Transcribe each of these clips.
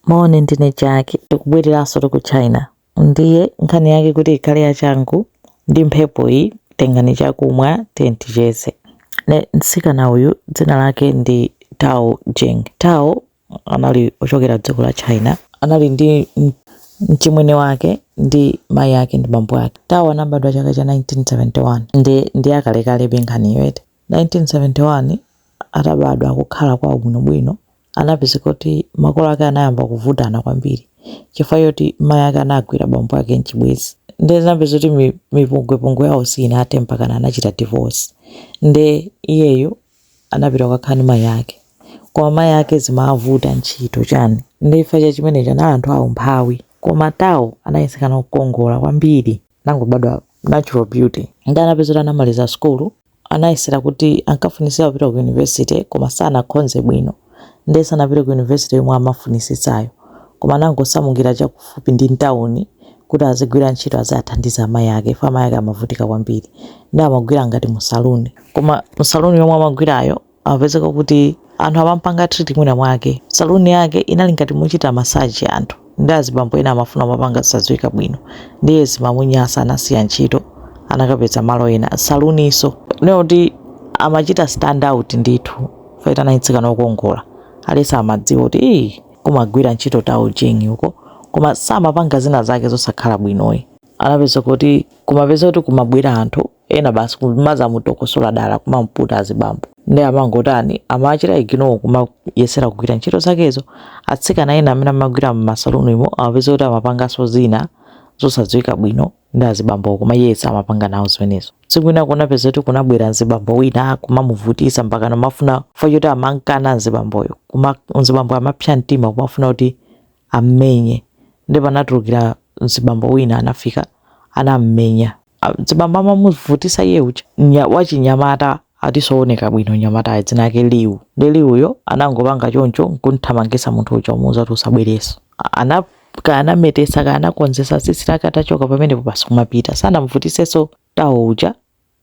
Moni ndine Jaki tikubwereranso ku China ndiye nkhani yake kuti ikhale yachangu ndi mphepo iyi tengani chakumwa tiyeni ticheze nde mtsikana uyu dzina lake ndi Tao Jing Tao anali ochokera dziko la China anali ndi m- mchimwene wake ndi mayi ake ndi bambo ake Tao anabadwa chaka cha 1971 ndi ndi akalekale be nkhaniyo eti 1971 atabadwa akukhala kwawo bwinobwino anapezeka kuti makolo ake anayamba kuvutana kwambiri chifukwa choti mayi ake anagwira bambo ake mchibwezi nde zinapezeka kuti mi- mipungwepungwe yawo siinathe mpakana anachita divorce nde iyeyo anapita kukakhala ndi mayi ake koma mayi ake zimavuta ntchito chani nde chifukwa cha chimenecho anali anthu aumphawi koma tawo anali mtsikana wokongola kwambiri anangobadwa natural beauty nde anapezeka kuti anamaliza sukulu anayesera kuti ankafunisitsa kupita ku university koma sanakhonze bwino ndiye sanapite ku university yomwe amafunisitsayo koma anangosamukira chakufupi ndi mtawuni kuti azigwira ntchito aziwathandiza amayi ake chifukwa amayi ake amavutika kwambiri nde amagwira ngati musaluni koma musaluni yomwe amagwirayo Amapezeka kuti anthu amampanga treat mwina mwake saloon yake inali ngati mochita massage anthu nde azibambo ena amafuna kumapanga zisadziwika bwino ndiye zimamunyasa anasiya ntchito anakapeza malo ena saloon nso kunena kuti amachita stand out ndithu chifukwa anali mtsikana wokongola aliyense amadziwa kuti ii kumagwira ntchito tao jing uko koma samapanga zina zake zosakhala bwinozi anapeza kuti kumapezeka kuti kumabwera anthu ena basi kumazamutokosola dala kumamputa azibambo nde amangotani amachita ignore kumayesetsa kugwira ntchito zakezo atsikana ena amene amagwira mmasaluni mo amapezeka kuti amapanganso zina zosadziwika bwino ndi azibambo koma iye samapanga nawo zimenezo tsiku lina kunapezeka kuti kunabwera nzibambo wina kumamuvutisa mpaka amafuna chifukwa choti amankana nzibamboyo koma nzibambo amapsa mtima kumafuna kuti ammenye nde panatulukira nzibambo wina anafika anammenya Ah, mzibambo amamuvutisa iye uja nya- wachinyamata atinso oneka bwino nyamatayo dzina lake Liu nde Liuyo anangopanga choncho nkumthamangisa munthu uja kumuuza kuti usabwereso A- ana kanametesa kanakonzesa tsitsi lake atachoka pamenepo basi kumapita sanamvutiseso Tao uja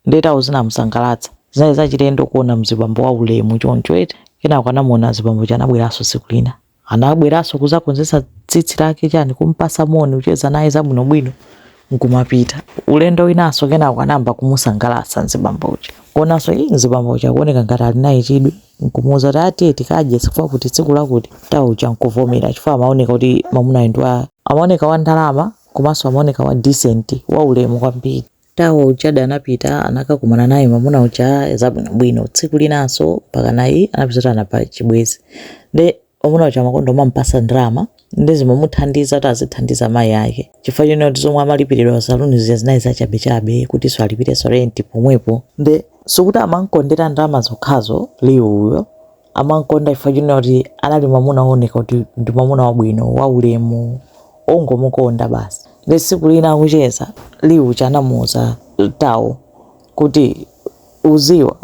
nde Tao zinamusangalatsa zinali zachilendo kuona mzibambo wa ulemu choncho eti kenako anamuona mzibambo uja anabweranso tsiku lina Anabweraso kuzakonzesa tsitsi lake chani kumpasa moni kucheza naye zabwino bwino nkumapita. Ulendo winaso kenako anayamba kumusangalasa nzibambo uja kuonaso ii nzibambo uja akuoneka ngati ali naye chidwi nkumuuza kuti aa tiye tikadye chakuti chakuti tsiku lakuti Tao uja nkuvomera chifukwa amaoneka kuti mamunayo ndi wa amaoneka wa ndalama komaso amaoneka wa decent wa ulemu kwambiri. Tao ujadi anapita anakakumana naye mamuna uja zabwinobwino tsiku linanso mpaka naye anapeza kuti anapanga chibwezi nde mamuna uja amakonda kumampasa ndalama nde zimamuthandiza kuti azithandiza mayi ake chifukwa chonena kuti zomwe amalipiridwa saluni zija zinali zachabechabe kuti alipirenso renti pomwepo nde sikuti amankondera ndalama zokhazo Liu uyo Amamkonda chifukwa chonena kuti anali mwamuna wooneka kuti ndi mwamuna wabwino, waulemu, ongomukonda basi. Ndiye tsiku lina akucheza, Liu uja anamuuza Tao kuti, Udziwa,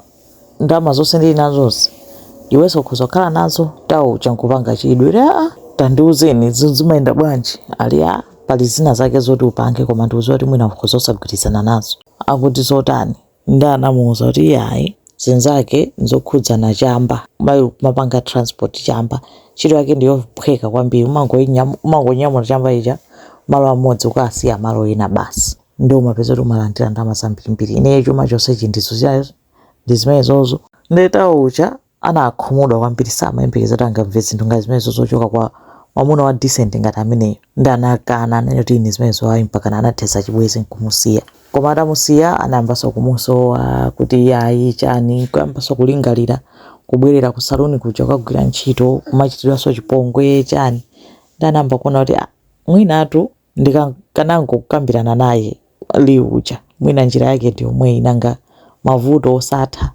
ndalama zonse ndili nazozi, iwenso ukhoza kukhala nazo. Tao uja nkupanga chidwi kuti, Aa! Tandiuzeni, izi zimayenda bwanji? Ali, Aa, pali zina zake zoti upange, koma ndikudziwa kuti mwina ukhoza osagwirizana nazo. Akuti zotani? nde anamuuza kuti iyayi zinazake nzokhudzana chamba umapanga transport chamba ntchito yake ndiyophweka kwambiri umangoinyam- umangonyamula chamba chija malo amodzi ukasiya malo ena basi nde umapeza kuti umalandira ndalama zambirimbiri ineyo chuma chonsechi ndizo chayo ndi zimenezozo nde Tao uja anakhumudwa kwambiri samayembekeza kuti angamve zinthu ngati zimenezo zochoka kwa mwamuna wa decent ngati ameneyo nde anakana kunena kuti ine zimenezo ayi mpakana anathetsa chibwezi nkumusiya koma atamusiya anayambanso kumusowa kuti ayi chani kuyambanso kulingalira kubwerera ku saluni kuja kukagwira ntchito kumachitidwanso chipongwe chani nde anayamba kuona kuti "Ah, mwinatu ndikanangokambirana naye Liu uja mwina njira yake ndi yomweyi nanga mavuto osatha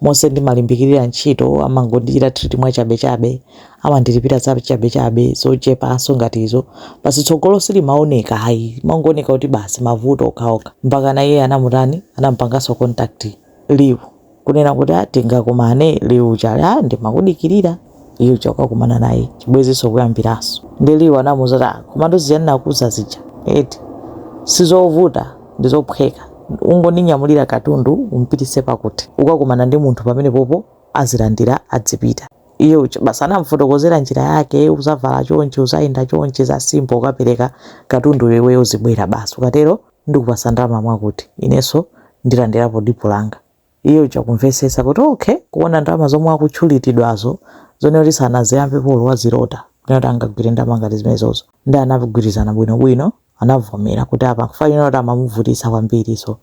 monse ndimalimbikilira ntchito amangondichita treat mwachabechabe amandilipira za chabechabe zochepanso ngati izo basi tsogolo silimaoneka ayi mangooneka kuti basi mavuto okhaokha mpakana iye anamutani anampanganso contact Liu kunena kuti ah tingakumane Liu uja ali ah ndimakudikilira iye uja kukakumana naye chibwezinso kuyambiranso nde Liu anamuuza kuti "Ah, komatu zija ndinakuuza zija eti sizovuta ndizophweka ungondinyamulira katundu umpitise pakuti ukakumana ndi munthu pamenepopo azilandira adzipita iye uja basi anamfotokozera njira yake uzavala chonchi uzayenda chonchi za simple ukapereka katundu iwe uzibwera basi ukatero ndikupasa ndalama mwakuti inenso ndilandirapo dipo langa Iye uja kumvetsetsa kuti okay, kuona ndalama zomwe akutchuliridwazo zonena kuti sanaziyambepo olo wazilota kunena kuti angagwire ndalama ngati zimenezozo nde anagwirizana bwinobwino anavomera kuti apa nkufanira kuti amamuvutitsa kwambiri so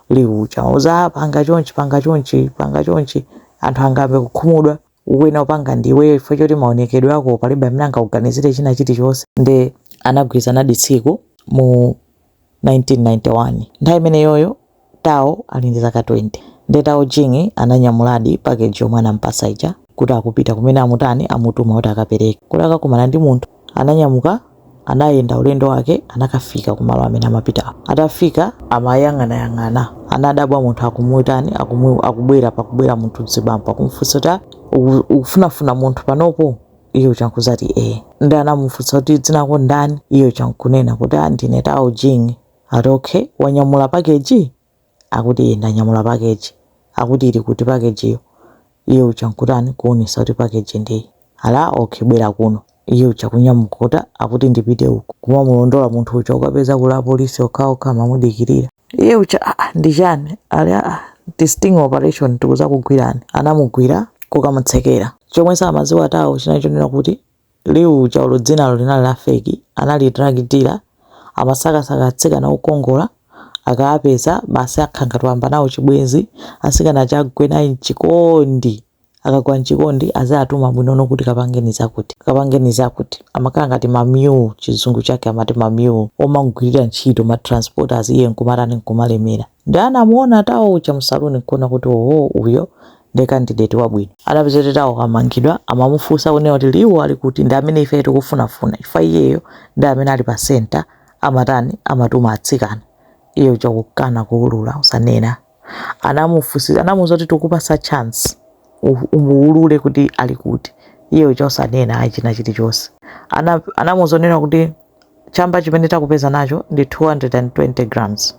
Liu uja kumuuza "Ah, panga chonchi panga chonchi panga chonchi anthu angambe kukhumudwa wina upanga ndi iweyo chifukwa choti maonekedwe ako palibe amene angakuganizire china chilichonse nde anagwirizanadi tsiku mu 1991. Nthawi imeneyoyo Tao ali ndi zaka 20. Nde Tao Jing ananyamuladi package yomwe anamupatsa ija kuti akupita kumene amutani amutuma kuti akapereke. Kuti akakumana ndi munthu. Ananyamuka anayenda ulendo wake anakafika kumalo amene amapitawo. Atafika amayang'anayang'ana anadabwa munthu akumutani akumu akubwera pakubwera munthu mzibambo akumufunsa kuti ah, uku- ukufunafuna munthu panopo? Iye uja nkudzati ee. Ndi anamufunsa kuti dzina lako ndani? Iye uja nkunena kuti ah ndine Tao Jing. Ati okay, wanyamula pakeji? Akuti ee ndanyamula pakeji. Akuti ili kuti pakejiyo? Iye uja nkutani? Kuonesa kuti pakeji ndi iyi. Ati ah okay bwera kuno. Iye uja kunyamuka kuti akuti ndipite uku. Kumamulondola munthu uja ukapeza kuli apolisi okhaokha amamudikirira. iye uja ah, ah, ndi chani ali ah, ah, ndi sting operation tikudzakugwirani anamugwira kukamutsekera chomwe samadziwa Tao chinali chonena kuti Liu uja olo dzinalo linali la feki anali drug dealer amasakasaka atsikana okongola akaapeza basi akhala ngati wayamba nawo chibwenzi atsikana aja agwe naye mchikondi Akagwa m'chikondi aziatuma bwinono kuti kapangeni zakuti, kapangeni zakuti. Amakhala ngati ma mule, chizungu chake amati ma mule, omamugwirira ntchito, ma transporters, iye nkumatani, nkumalemera. Nde anamuona Tao uja mu saloon nkuona kuti oho, uyo ndi candidate wabwino. Anapeza kuti Tao wamangidwa, amamufunsa kunena kuti Liu ali kuti, ndi amene ifeyo tikufunafuna chifukwa iyeyo ndi amene ali pa center, amatani, amatuma atsikana. Iye uja kukana, kuulula, osanena. anamufunsa anamuuza kuti tikupasa chance umuulule kuti ali kuti iye uja osanena ayi china chilichonse Ana- anamuuza zonena kuti chamba chimene takupeza nacho ndi 220 grams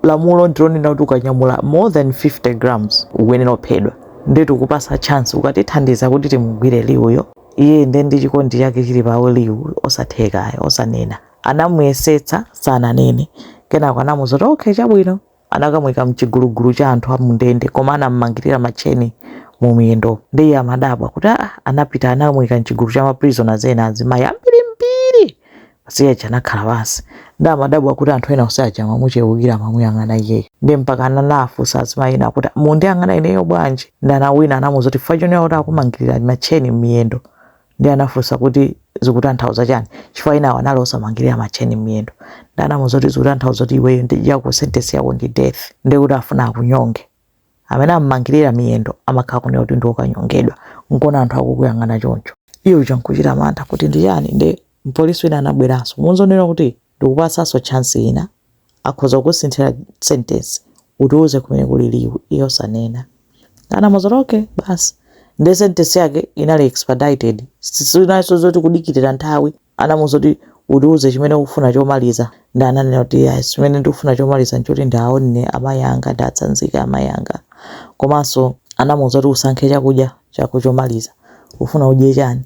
lamulo ndilonena kuti ukanyamula more than 50 grams ukuyenera kuphedwa ndiye tikupasa chance ukatithandiza kuti timugwire Liuyo iye nde ndi chikondi chake chili pa Liu osatheka osanena anamuyesetsa sananene kenako anamuuza kuti okay chabwino anakamuika mchigulugulu cha anthu a mundende koma anamumangirira matcheni mu miyendo ndi iye amadabwa kuti aa anapita anamuika mchigulu cha maprisoners ena azimayi ambirimbiri basi iye uja anakhala pansi ndi amadabwa kuti anthu ena onse aja amamuchewukira amamuyang'ana iyeyo ndi mpaka ananafunsa azimayi ena kuti mundiyang'ana ineyo bwanji ndi anawina anamuuza kuti chifukwa chonena kuti akumangirira matcheni m'miyendo Ndiye anafunsa kuti zikutanthauza chani chifukwa enawo anali osamangirira matcheni m'miyendo. Ndiye anamuuza kuti zikutanthauza kuti iweyo ndi yako sentence yako ndi death, ndiye kuti afuna akunyonge. Amene am'mangirira miyendo amakhala kunena kuti ndi wokanyongedwa, nkona anthu akukuyang'ana choncho. Iye uja n'kuchita mantha kuti ndi chani, ndiye mpolisi wina anabweranso. Kumuuza zonena kuti. Ndikupatsanso chance ina, akhoza kukusinthira sentence, utiuze kumene kuli Liwu, iye osanena. Anamuuza kuti okay basi, ndiye sentence yake inali expedited, sinalinso zoti kudikirira nthawi, anamuuza kuti utiuze chimene ukufuna chomaliza, ndiye ananena kuti yeah, chimene ndikufuna chomaliza n'choti ndiaonne amayi anga, ndiatsanzike amayi anga. Komanso anamuuza kuti usankhe chakudya chako chomaliza, ufuna udye chani?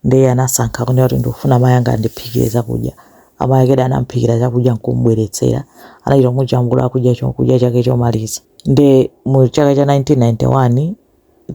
Ndiye anasankha kunena kuti ndikufuna amayi anga andiphikire chakudya. Amayi akedi anamphikira chakudya n'kumubweretsera. Anachita kumujambula akudya chakudya chake chomaliza. Ndiye mu chaka cha 1991,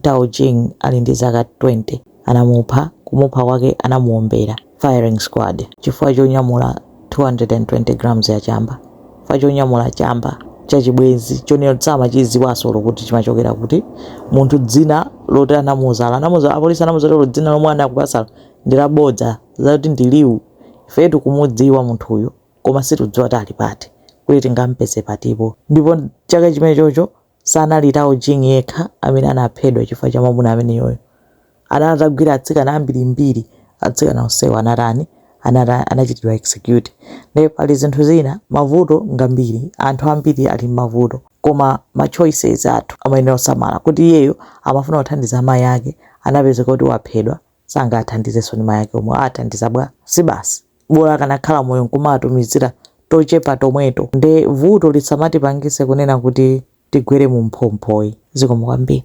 Tao Jing ali ndi zaka 20 anamupha. Kumupha kwake anamuwombera, firing squad, chifukwa chonyamula 220 grams ya chamba chifukwa chonyamula chamba cha chibwenzi chonena kuti samachidziwanso olo kuti chimachokera kuti munthu dzina loti anamuuza apolisi anamuuza olo dzina lomwe anakupatsalo ndi labodza zoti ndi Liwu ife tikumudziwa munthuyu koma sitikudziwa kuti ali pati kuti tingampeze patipo ndipo chaka chimene chocho Sanali Tao Jing yekha amene anaphedwa chifukwa cha mwamuna ameneyoyo. Anali atagwira atsikana ambirimbiri. Atsikana onsewo anatani? Anata, anachitidwa execute. Ndiye pali zinthu zina, mavuto ngambiri, anthu ambiri ali m'mavuto. Koma ma choices athu amayenera kusamala kuti iyeyo amafuna kuthandiza amayi ake, anapezeka kuti waphedwa, sangaathandizenso ndiye mayake omwe aathandiza bwa? sibasi bola akanakhala moyo nkumaatumizira tochepa tomweto nde vuto lisamatipangise kunena kuti tigwere mu mphomphoi. zikomo kwambiri.